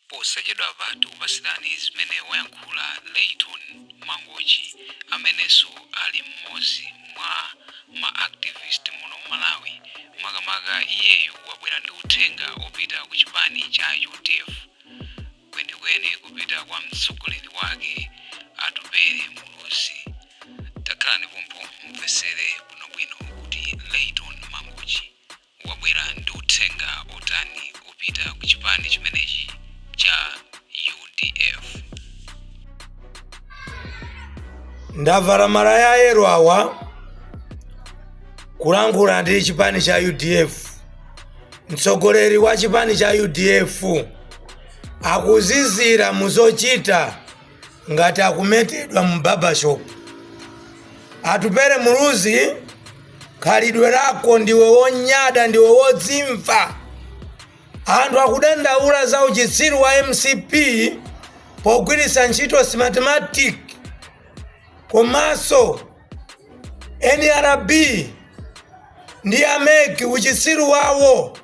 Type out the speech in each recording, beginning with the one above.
posachedwapa tikupatsirani zimene wayankhula layton mangochi amenenso ali mmodzi mwa ma activist muno mmalawi makamaka iyeyu wabwera ndi uthenga opita ku chipani cha udf kwenikweni kupita kwa mtsogoleri wake atupele muluzi takhalani pompo mumvetsere bwinobwino kuti layton mangochi wabwera ndi uthenga otani opita ku chipani chimenechi cha udf? ndavala malaya ayero awa kulankhula ndi chipani cha udf mtsogoleri wa chipani cha udf akuzizira muzochita ngati akumetedwa mu barbershop atupele muluzi khalidwe lako ndiwe wonyada ndiwe wodzimva anthu akudandaula za uchitsiru wa mcp pogwiritsa ntchito smartmatic komanso nrb ndi a mec uchitsiru wawo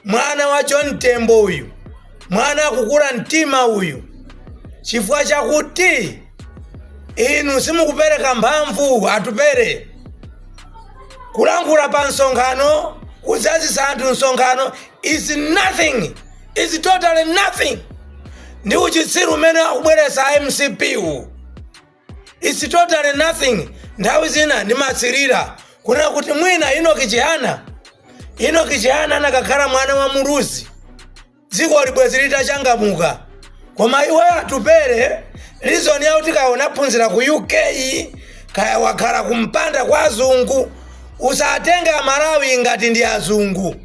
mwana wa john tembo uyu mwana akukula mtima uyu chifukwa chakuti inu simukupereka mphamvu atupele kulankhula pa msonkhano kudzazisa anthu msonkhano is nothing is totally nothing ndi uchitsiru umene akubweretsa mcp wu its totally nothing nthawi zina ndimatsirira kunena kuti mwina enock chihana enock chihana anakakhala mwana wa muluzi dziko libwezi litachangamuka koma iwe atupele reason yakuti kaya unaphunzira ku uk kaya wakhala kumpanda kwa azungu usatenge amalawi ngati ndi azungu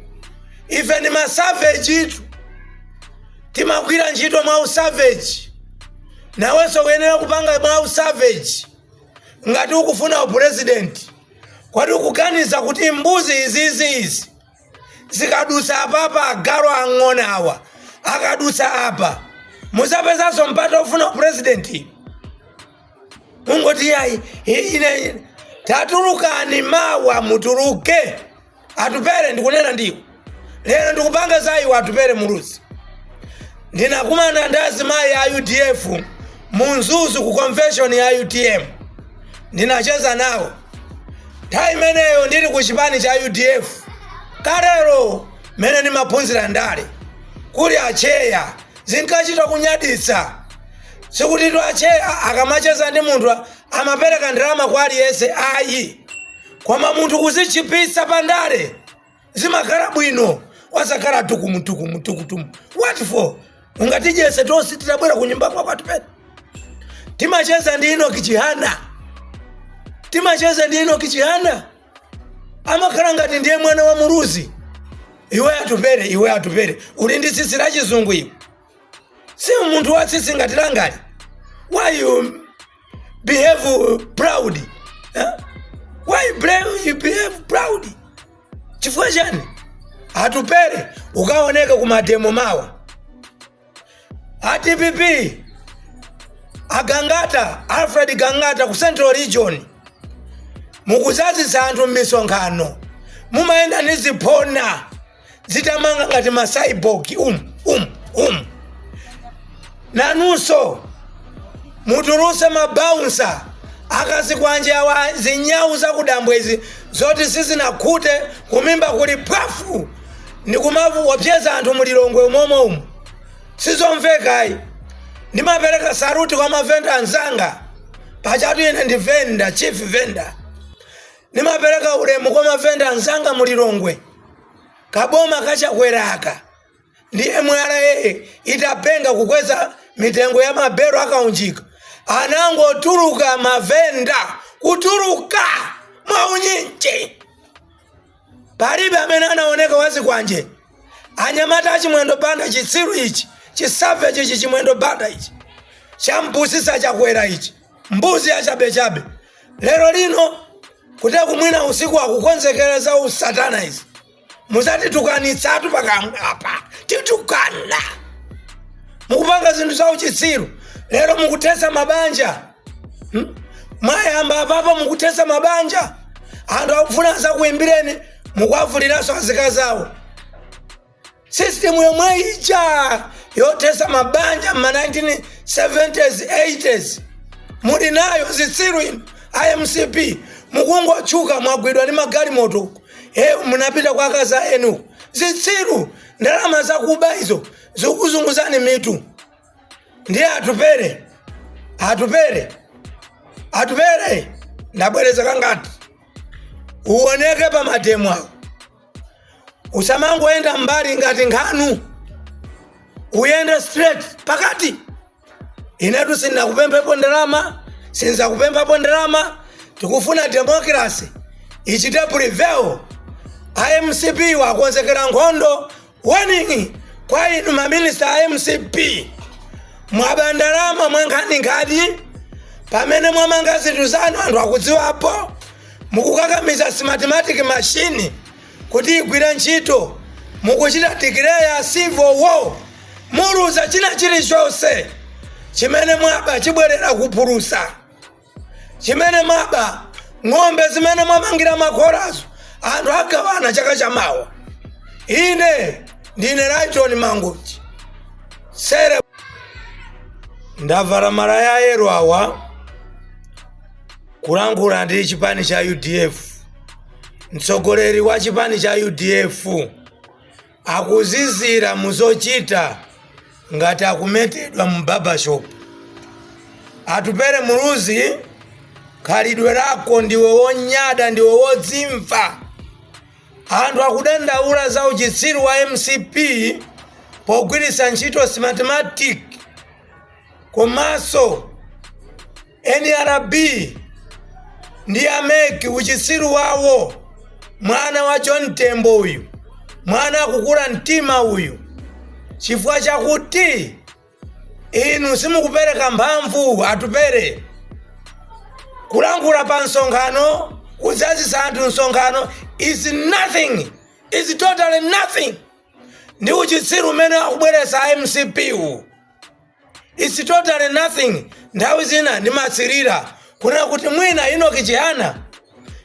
ife ndi masavejitu timagwira ntchito mwa usaveji nawenso uyenera kupanga mwa usaveji ngati ukufuna upurezidenti kodi ukuganiza kuti mbuzi izizi izi zikadusa apapa agalu ang'ona awa akadusa apa muzapezanso mpata ofuna upurezidenti mungoti yayi ine tatulukani mawa mutuluke Atupele ndikunena ndiwe lero ndikupanga za iwe Atupele Muluzi. Ndinakumana ndi azimayi a udf mu Mzuzu ku convention ya utm ndinacheza nawo nthawi imeneyo ndili ku chipani cha udf kalero mmene ndimaphunzira ndale kuli acheya zinkachita kunyaditsa sikuti tu acheya akamacheza ndi munthu amapereka ndalama kwa aliyense ayi Koma munthu kudzichepetsa pa ndale zimakhala bwino wasakhala tukumu tukumu tukumu what for ungatidyese tonse titabwera ku nyumba kwako atupele timacheza ndi enoki chihana timacheza ndi enoki chihana amakhala ngati ndiye mwana wa muluzi iwe atupele iwe atupele uli ndi tsitsi la chizungu iwe si munthu watsitsi ngati langali why you behave proud eh? why you behave proud chifukwa chani atupele ukaoneka ku mademo mawa adpp agangata alfred gangata ku central region mukudzazitsa anthu m'misonkhano mumayenda ni ziphona zotamanga ngati masaibogi umu umu umu nanunso mutuluse mabaunsa a kazikwanje awa zinyawu zakudambwezi zoti sizinakhute kumimba kuli phwafu ndikumaopyeza anthu mulilongwe umomo umu sizomvekayi ndimapereka saruti kwa mavenda anzanga pajatu ine ndi venda chief venda Ndimapereka ulemu kwa mavenda anzanga mu Lilongwe. Kaboma ka Chakwera aka ndi MRA itapenga kukweza mitengo ya mabelo akaunjika anangotuluka mavenda kutuluka mwaunyinji. Palibe amene anaoneka wazikwanje. Anyamata achimwendo banda chitsiru ichi chisaveji ichi chimwendo banda ichi champusisa Chakwera ichi. mbuzi yachabechabe lero lino kuti mwina usiku akukonzekera za usatana izi muzatitukanitsatu pakamwa apa titukana mukupanga zinthu za uchitsiru lero mukuthetsa mabanja hmm? mwayamba apapa mukuthetsa mabanja anthu akufuna azakuimbireni mukuwavuliranso azikazi awo Sisitimu yomwe ija yothetsa mabanja m'ma 1970s 80s muli nayo zitsiru inu a mcp mukungotchuka mwagwidwa ndi magalimoto uku eyo munapita kwa akazi anu zitsiru ndalama zakuba izo zikuzunguzani mitu ndiye atupele atupele atupele ndabwereza kangati uoneke pa mademo awo usamangoyenda mbali ngati nkhanu uyende straight pakati inetu sindinakupemphepo ndalama sinzakupemphapo ndalama tikufuna demokrasi ichite prevail a mcp akonzekera nkhondo Warning kwa inu ma minister a mcp mwaba ndalama mwankhaninkhani pamene mwamanga zinthu zanu anthu akudziwapo mukukakamiza smartmatic machine kuti igwire ntchito mukuchita dikileya civil war muluza china chilichonse chimene mwaba chibwerera kupulusa chimene mwaba ng'ombe zimene mwamangira makhorazo anthu agawana chaka chamawa ine ndine raiton mangochi sere ndavala malaya a yellow awa kulankhula ndi chipani cha udf mtsogoleri wa chipani cha udf wakuzizira mu zochita ngati akumetedwa mu barbershop. Atupele Muluzi, khalidwe lako ndiwe wonyada, ndiwe wodzimva. Anthu akudandaula za uchitsiru wa mcp pogwiritsa ntchito smartmatic komanso Nrb ndi a mec uchitsiru wawo mwana wa John Tembo uyu mwana akukula mtima uyu chifukwa chakuti inu simukupereka mphamvu atupere kulankhula pa msonkhano kudzazitsa anthu msonkhano is nothing is totally nothing ndi uchitsiru umene akubweretsa mcp wu its totally nothing nthawi zina ndimatsirira kunena kuti mwina inoki chihana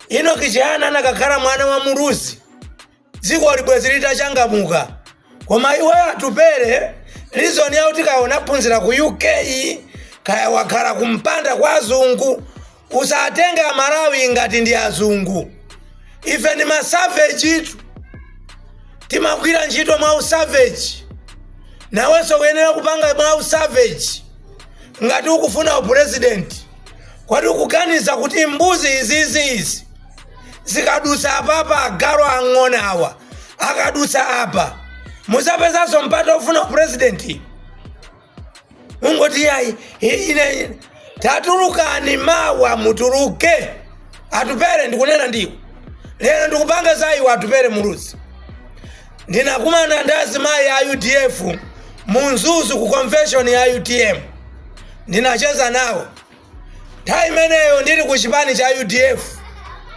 inoki chihana anakakhala mwana wa muluzi dziko libwezi litachangamuka koma iwe atupere reason yakuti kaya unaphunzira ku uk kaya wakhala kumpanda kwa azungu Usatenge amalawi ngati ndi azungu. Ife ndi ma savage tu. Timagwira ntchito mwa usavage. Nawenso uyenera kupanga mwa usavage. Ngati ukufuna upresident. Kodi ukuganiza kuti mbuzi izizi izi zikadusa apapa agalu ang'ona awa akadusa apa muzapezanso mpata wofuna upresident? ungoti yayi ine tatulukani mawa mutuluke atupere ndikunena ndiwe lero ndikupanga za iwe atupere muluzi ndinakumana ndi azimayi a udf mu mzuzu ku convention ya utm ndinacheza nawo nthawi imeneyo ndili ku chipani cha udf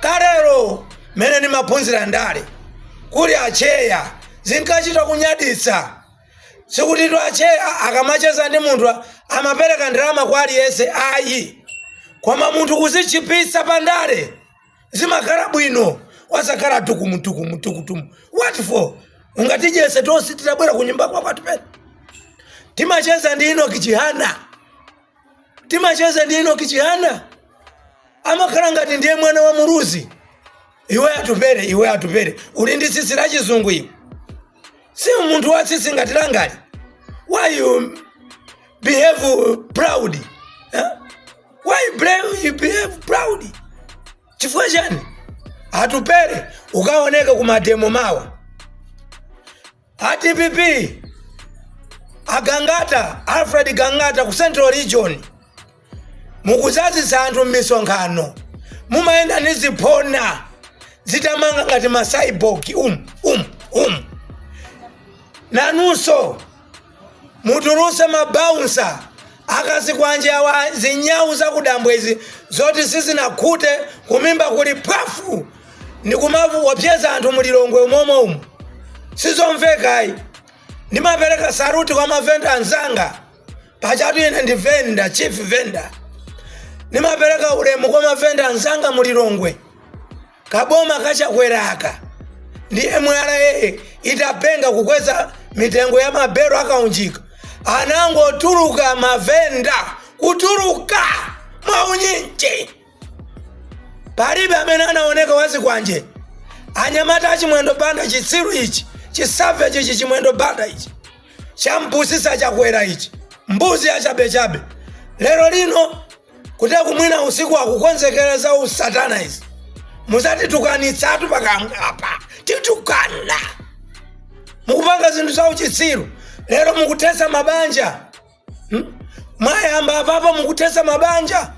kalero mmene ndimaphunzira ndale kuli acheya zinkachita kunyaditsa sikutitu atcheya akamacheza ndi munthu a- amapereka ndalama kwa aliyense ayi koma munthu kuzichipitsa pa ndale zimakhala bwino osakhala tukumutukumu tukutumu what for ungatidyese tonse titabwera kunyumba kwako Atupele timacheza ndi Enoki Chihana timacheza ndi Enoki Chihana amakhala ngati ndiye mwana wa Muluzi iwe Atupele iwe Atupele uli ndi tsitsi la chizungu iwe si munthu wa tsitsi ngati langali why you behave proud eh? why you blame- you behave proud chifukwa chani Atupele ukaoneka ku mademo mawa a DPP a Gangata Alfred Gangata ku central region mukudzazitsa anthu m'misonkhano mumayenda ni ziphona zitamanga ngati masaibogi um um um nanunso mutuluse mabaunsa Azikwanje awa zinyau zakudambwe izi zoti sizinakhute kumimba kuli phwafu ndikumaopseza anthu mu Lilongwe umomo umo sizomvekayi ndimapereka saluti kwa mavenda anzanga pachatu ine ndi venda chief venda ndimapereka ulemu kwa mavenda anzanga mu Lilongwe Kaboma ka Chakwera aka ndi MRA itapenga kukweza mitengo ya mabelo a kaunjika anangotuluka mavenda kutuluka mwaunyinji palibe amene anaoneka wazikwanje anyamata a Chimwendo Banda chitsiru ichi chisaveji ichi Chimwendo Banda ichi champusitsa Chakwera ichi mbuzi yachabechabe lero lino kuti akumwina usiku akukonzekera za usatana izi musatitukanitsetu pakamwapa titukana mukupanga zinthu za uchitsiru lero mukuthetsa mabanja hmm? mwayamba apapa mukuthetsa mabanja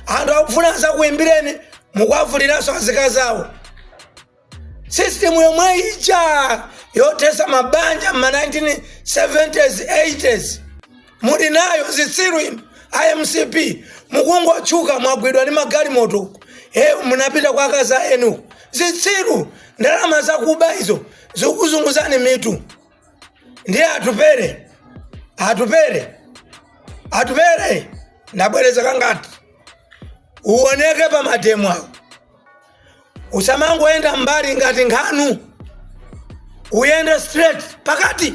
anthu akufuna azakuimbireni mukuwavuliranso azikazi awo sisitemu yomwe ija yothetsa mabanja ma 1970s 80s muli nayo zitsiru inu a MCP mukungotchuka mwagwidwa ndi magalimoto uku e munapita kwa akazi eni zitsiru ndalama zakuba izo zikuzunguzani mitu ndiye Atupele Atupele Atupele ndabwereza kangati uoneke pa mademo awo usamangoyenda mbali ngati nkhanu uyende straight pakati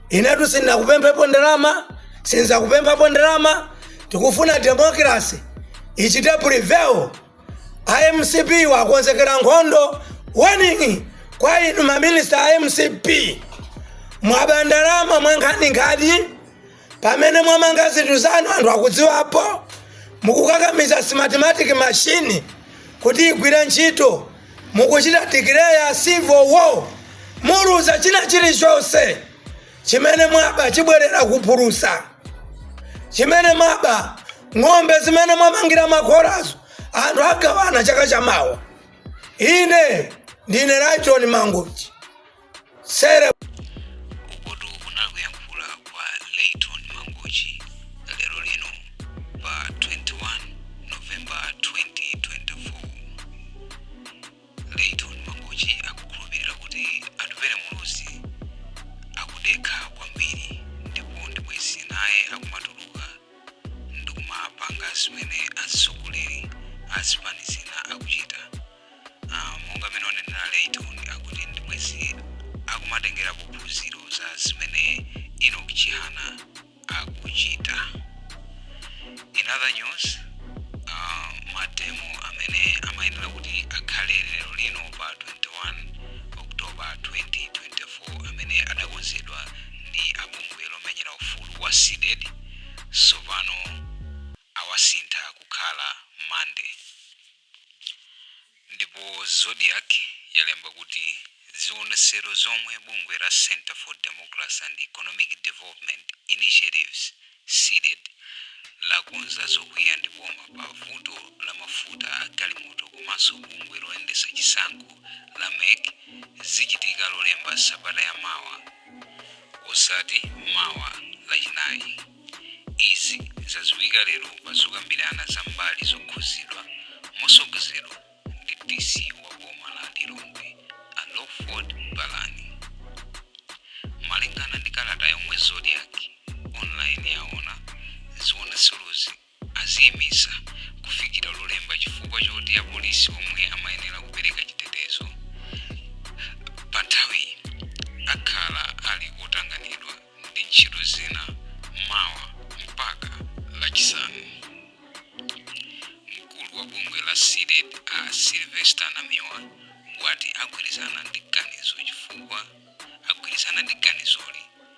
inetu sindinakupemphenipo ndalama sinzakupemphapo ndalama tikufuna demokrasi ichite prevail a mcp wakonzekera nkhondo warning kwa inu maminista a mcp mwaba ndalama mwankhaninkhani pamene mwamanga zinthu zanu anthu akudziwapo mukukakamiza smartmatic machine kuti igwire ntchito mukuchita declare civil war muluza china chilichonse chimene mwaba chibwerera kuphulusa chimene mwaba ng'ombe zimene mwamangira makhorazo anthu agawana chaka chamawa ine ndine layton mangochi sere ukotu kunali kuyankhula kwa layton mangochi lero lino pa 21 novemba 2024 layton mangochi akukhulupirira kuti atupere muluzi akudekha kwambiri ndipo ndibwezi naye akumatuluka ndikumapanga zimene atsogoleri azipani zina akuchita Ah, monga mmene wanenera layton akuti ndibwezi akumatengera phunziro za zimene enoch chihana akuchita in other news ah, mademo amene amayenera kuti akhale lero lino pa 21 october 2024 amene adakonzedwa ndi abungwe lomenyera ufulu wa cdedi sopano awasintha kukhala monday Ndipo Zodiak yalemba kuti zionesero zomwe bungwe la Centre for Democracy and Economic Development Initiatives, Cdedi, lakonza zokwiya ndi boma pa vuto la mafuta a galimoto komanso bungwe loyendetsa chisankho la mec zichitika lolemba sabata ya mawa osati mawa lachinayi. Izi zaziwika lero pazokambirana za mbali zokhuzidwa mosogozedwa ndi DC wa boma la Lilongwe a Lawford Palani. Malingana ndi kalata yomwe Zodiak Online yaona, ziwonetserozi aziimisa kufikira lolemba chifukwa choti apolisi omwe amayenera kupereka chitetezo pa nthawiyi akhala ali otanganidwa ndi ntchito zina mawa mpaka lachisanu mkulu wa bungwe la cdedi a sylvester namiwa wati agwirizana ndi ganizo chifukwa agwirizana ndi ganizoli